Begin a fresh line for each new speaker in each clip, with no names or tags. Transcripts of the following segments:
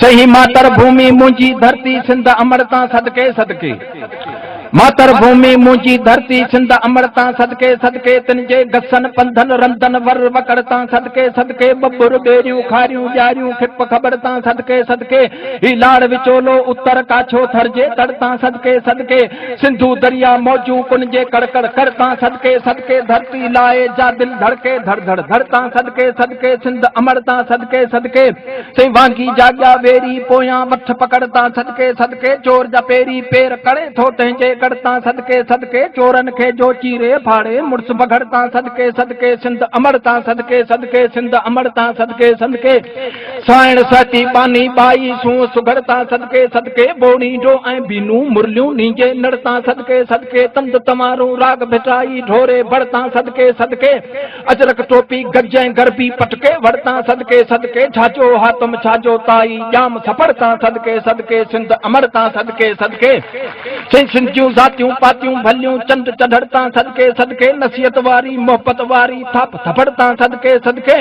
چئي ماتر ڀومي منهنجي ڌرتي سنڌ امڙ تان صدقي صدقي ماتر ڀومي منهنجي ڌرتي سنڌ امڙ تان صدقي صدقي تن جي گسن پنڌن رندن ور وڪڙ تان صدقي صدقي ٻٻر ٻيريون کاريون ڄاريون کپ کٻڙ تان صدقي صدقي هي لاڙ وچولو اتر ڪاڇو ٿر جي تڙ تان صدقي صدقي سنڌو دريا موجون ڪن جي ڪڙ ڪڙ ڪڙ تان صدقي صدقي ڌرتي لاء جا دل ڌڙڪي ڌڙ ڌڙ ڌڙ تان صدقي صدقي سنڌ امڙ تان صدقي صدقي سائين وانگي جاڳيا ويري پويان وٺ پڪڙ تان صدقي صدقي چور جا پيري پير ڪڙي ٿو تنهنجي ڳڙ تان صدقي صدقي چورن کي جو چيري ڦاڙي مڙس بگهڙ تان صدقي صدقي سنڌ امڙ تان صدقي صدقي سنڌ امڙ تان صدقي صدقي سائڻ سهتي ٻانهي ٻائي سونهن سگهڙ تان صدقي صدقي بوڙي جو ۽ بينون مرليون نينجي نڙ تان صدقي صدقي تند تنوارون راڳ ڀٽائي ڍوري ڀڙ تان صدقي صدقي اجرڪ ٽوپي گج ۽ گربي پٽڪي وڙ تان صدقي صدقي جھاجو حاتم ڇاجو تائي ڄام ٿڦڙ تان صدقي صدقي سنڌ امڙ تان صدقي صدقي سين سنڌ جون ذاتيون پاتيون ڀليون چنڊ چڍڙ تان صدقي صدقي نصيحت واري محبت واري ٿاپ ٿڦڙ تان صدقي صدقي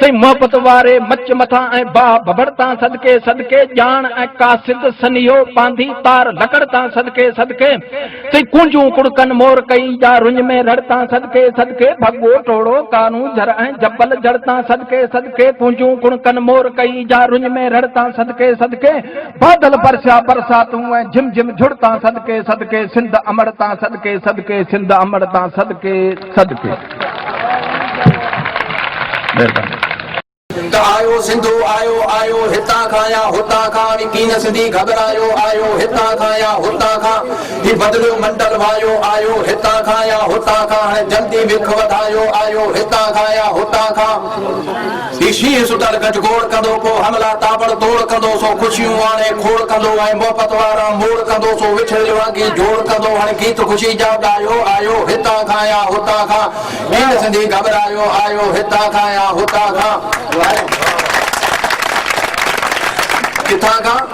سائين محبت واري مچ مٿان ۽ باھ ڀڀڙ تان صدقي صدقي ڄاڻ ۽ قاصد سنيهو ٻانڌي تار لڪڙ تان صدقي صدقي سائين ڪونجون ڪڙڪن مور ڪئي جا رڃ ۾ رڙ تان صدقي صدقي ڀڳو ٽوڙو ڪارون جھر ۽ جبل جڙ تان صدقي صدقي ڪونجون ڪڙڪن مور ڪئي جا رڃ ۾ رڙ تان صدقي صدقي بادل برسيا برساتون ۽ جھم جھم جھڙ تان صدقي صدقي سنڌ امڙ تان صدقي صدقي سنڌ امڙ تان صدقي سڏ ٿي. مهرباني.
ته آيو سنڌو آيو آيو هتان کان يا هتان کان هي ڪين سنڌي گهٻرايو آيو هتان کان يا هتان کان هي بدليو منڊل وايو آيو هتان کان يا هتان کان هاڻي جلدي وک وڌايو آيو هتان کان يا هتان کان هي شينهن ستر گج گوڙ ڪندو، پوء حملا تاٻڙ توڙ ڪندو، سو خوشيون آڻي کوڙ ڪندو، ۽ محبت وارا موڙ ڪندو، سو وڇڙيل وانگي جوڙ ڪندو، هڻ گيت خوشي جا ڳايو، آيو هتان کان يا هتان کان، ڪير سنڌي گهٻرايو، آيو هتان کان يا هتان کان، ڪٿان کان.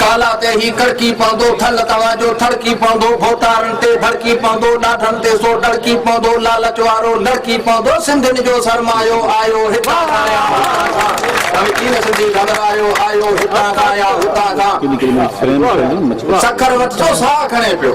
ڪالا تي هي ڪڙڪي پوندو، ٿل توهان جو ٿڙڪي پوندو، ڀوتارن تي ڀڙڪي پوندو، ڏاڍن تي سو ڏڙڪي پوندو، لالچ وارو لڙڪي پوندو، سنڌين جو سرمايو آيو هتان کان يا هتان کان، ڀوي چين سنڌي گهٻرايو آيو هتان کان يا هتان کان، سکر وٽ ٿو ساهه کڻي پيو.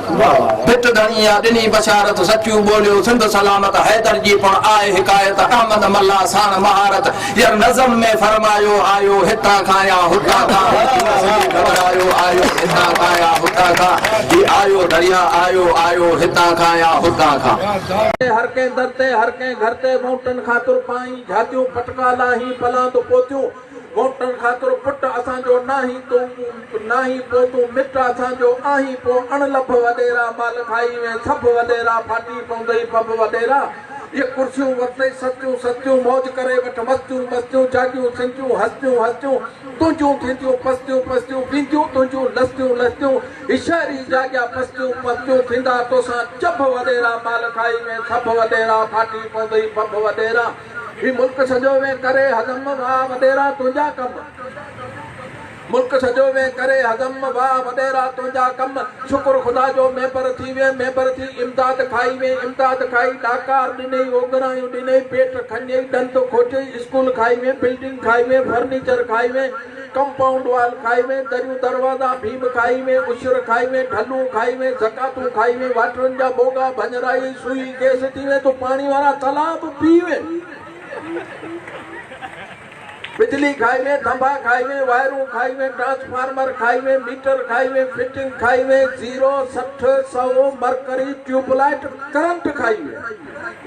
پٽ ڌڻي يا ڏني بشارت سچيون ٻوليو سنڌ سلامت حيدر جي پڻ آء حڪايت احمد ملاح ساڻ مهارت يا نظم ۾ فرمايو آيو هتان کان يا هتان کان هي جينس جي گهٻرايو آيو هتان کان يا هتان کان هي آيو دريا آيو آيو هتان کان يا هتان کان. هر ڪنهن
در تي هر ڪنهن گهر تي مونٽن کان ترپائين جهاتيون پٽڪا لاهين پلاند پوتيون ووٽن خاطر پٽ اسان جو ناهين تون ناهين پو تون مٽ اسان جو آهين پو اڻ لڀ وڏيرا مال کائي وين سڀ وڏيرا ڦاٽي پوندئي ڦڀ وڏيرا اهي ڪرسيون ورتئي سستيون سستيون موج ڪري وٺ مستيون مستيون جاڳيون سنجيون هستيون هستيون تنهنجون ٿينديون پستيون پستيون وينديون تنهنجون لستيون لستيون هي شهر ئي جاڳيا پستيون پستيون ٿيندا توسان چڀ وڏيرا مال کائي وين سڀ وڏيرا ڦاٽي پوندئي ڦڀ وڏيرا هي ملڪ سڄو وين ڪري هضم واء وڏيرا تنهنجا ڪم ملڪ سڄو وين ڪري هضم واء وڏيرا تنهنجا ڪم شڪر خدا جو ميمبر ٿي وين ميمبر ٿي امداد کائي وين امداد کائي ڏاڪار ڏنئي اوگرايون ڏنئي پيٽ کنئي ڏند کوٽيئي اسڪول کائي وين بلڊنگ کائي وين فرنيچر کائي وين ڪمپائونڊ وال کائي ۾، دريون دروازا، ڀيم کائي ۾، عشر کائي ۾، ڍلون کائي ۾، زڪاتون کائي ۾، واٽرن جا موڳا، ڀڃرائي، سوئي، گيس ٿي ۾، تو پاڻي وارا تلاء به پي ۾، بجلي کائي ۾، ٿنڀا کائي ۾، وائرون کائي ۾، ٽرانسفارمر کائي ۾، ميٽر کائي ۾، فٽنگ کائي ۾، زيرو، سٺ، سئو، مرڪري، ٽيوب لائيٽ، ڪرنٽ کائي ۾.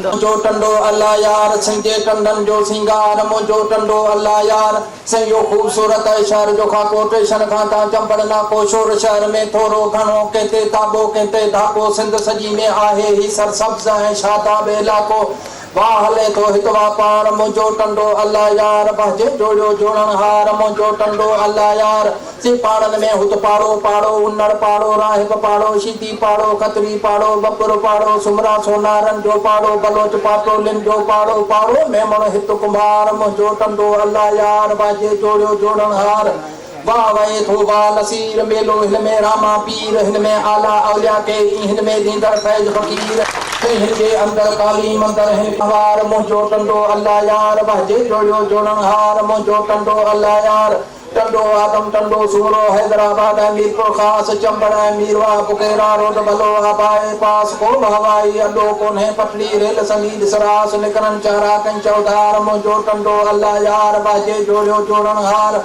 منهنجو ٽنڊو الله يار، سين جي ٽنڊن جو سينگار، منهنجو ٽنڊو الله يار، سين اهو خوبصورت اهي شهر جو کان ڪوٽيشن کان تان چنبڙ نا ڪوشور شهر ۾ ٿورو گهڻو ڪنهن تي تابو ڪنهن تي ڌاڪو سنڌ سڄي ۾ آهي هي سرسبز ۽ شاداب علائقو واهه هلي ٿو هت واپار منهنجو ٽنڊو الله يار بهجي جوڙيو جوڻڻهار منهنجو ٽنڊو الله يار سي پاڙن ۾ هت پاڙو، پاڙو، انڙ پاڙو، راهب پاڙو، شيدي پاڙو، کتري پاڙو، ٻٻر پاڙو، سومرا سونارن جو پاڙو، بلوچ پاٽولين جو پاڙو، پاڙو، ميمڻ هت ڪنڀار، منهنجو ٽنڊو الله يار، واجهي جوڙيو جوڙڻهار، واهه وهي ٿو واهه نصير، ميلو هن ۾ راما پير، هن ۾ اعليٰ اولياء ڪي اي، هن ۾ ڏيندڙ فيض فقير، ڪي هن جي اندر ڪالي مندر هن ڪنڀار، منهنجو ٽنڊو الله يار، واجهي جوڙيو جوڙڻهار، منهنجو ٽنڊو الله يار. ٽنڊو آدم، ٽنڊو سومرو، حيدرآباد ۽ ميرپورخاص، چمبڙ ۽ ميرواهه، پڪيرا روڊ، بلوه، باء پاس، ڪو به هوائي اڏو ڪونهي، پٽڙي، ريل، سميد، سراس، نڪرن، چهراڪ ۽ چوڌار، منهنجو ٽنڊو الله يار، ٻاجهي جوڙيو جوڙڻهار،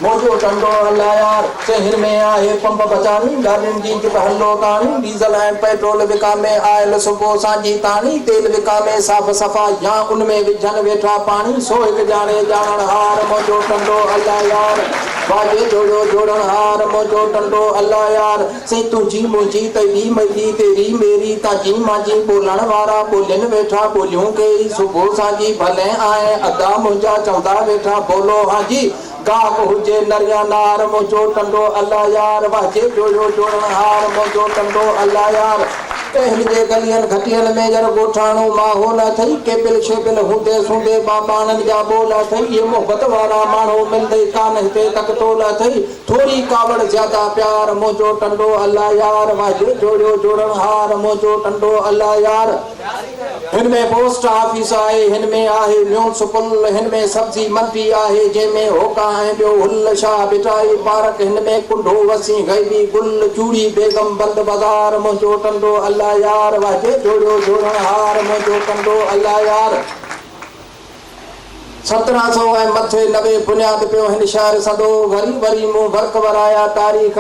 منهنجو ٽنڊو الله يار، سي هن ۾ آهي پنپ بچاڻي، گاڏين جي جت هلو تاڻي، ڊيزل ۽ پيٽرول وڪامي آئل سڪو سانجهي تاڻي تيل وڪامي صاف صفا يا ان ۾ وجهن ويٺا پاڻي سو هڪ ڄاڻي ڄاڻڻ هار منهنجو ٽنڊو الله يار واجهي جوڙيو جوڙڻ هار منهنجو ٽنڊو الله يار سين تنهنجي منهنجي تيري ميري تيري ميري تانجي مانجي ٻولڻ وارا ٻولين ويٺا ٻوليون ڪيئي سڪو سانجهي ڀلين آهين ادا منهنجا چوندا ويٺا ٻولو هانجي گام هجي نر يا نار، منهنجو ٽنڊو الله يار، واهجي جويو جوڻڻ هار، منهنجو ٽنڊو الله يار. ڪنهن جي گلين گهٽين ۾ ير ڳوٺاڻو ماحول اٿئي، ڪيبل شيبل هوندي سوندي ٻاٻاڻن جا ٻول اٿئي، اهي محبت وارا ماڻهو ملندئي ڪانه هتي ڪڪتول اٿئي، ٿوري ڪاوڙ زياده پيار، منهنجو ٽنڊو الله يار، واهجي جويو جوڻڻ هار، منهنجو ٽنڊو الله يار. هن ۾ پوسٽ آفيس آهي، هن ۾ آهي ميونسپل، هن ۾ سبزي منڊي آهي، جنهن ۾ هوڪا ۽ ٻيو هل، شاهه ڀٽائي پارڪ، هن ۾ ڪنڍو، وسين غيبي گل، چوڙي بيگم، بند بازار، منهنجو ٽنڊو الله يار، واهجي جوڙيو جوڙڻ هار، منهنجو ٽنڊو الله يار. سترهن سئو ۽ مٿي نوي بنياد پيو هن شهر سندو، وري وري مون ورق ورايا، تاريخ.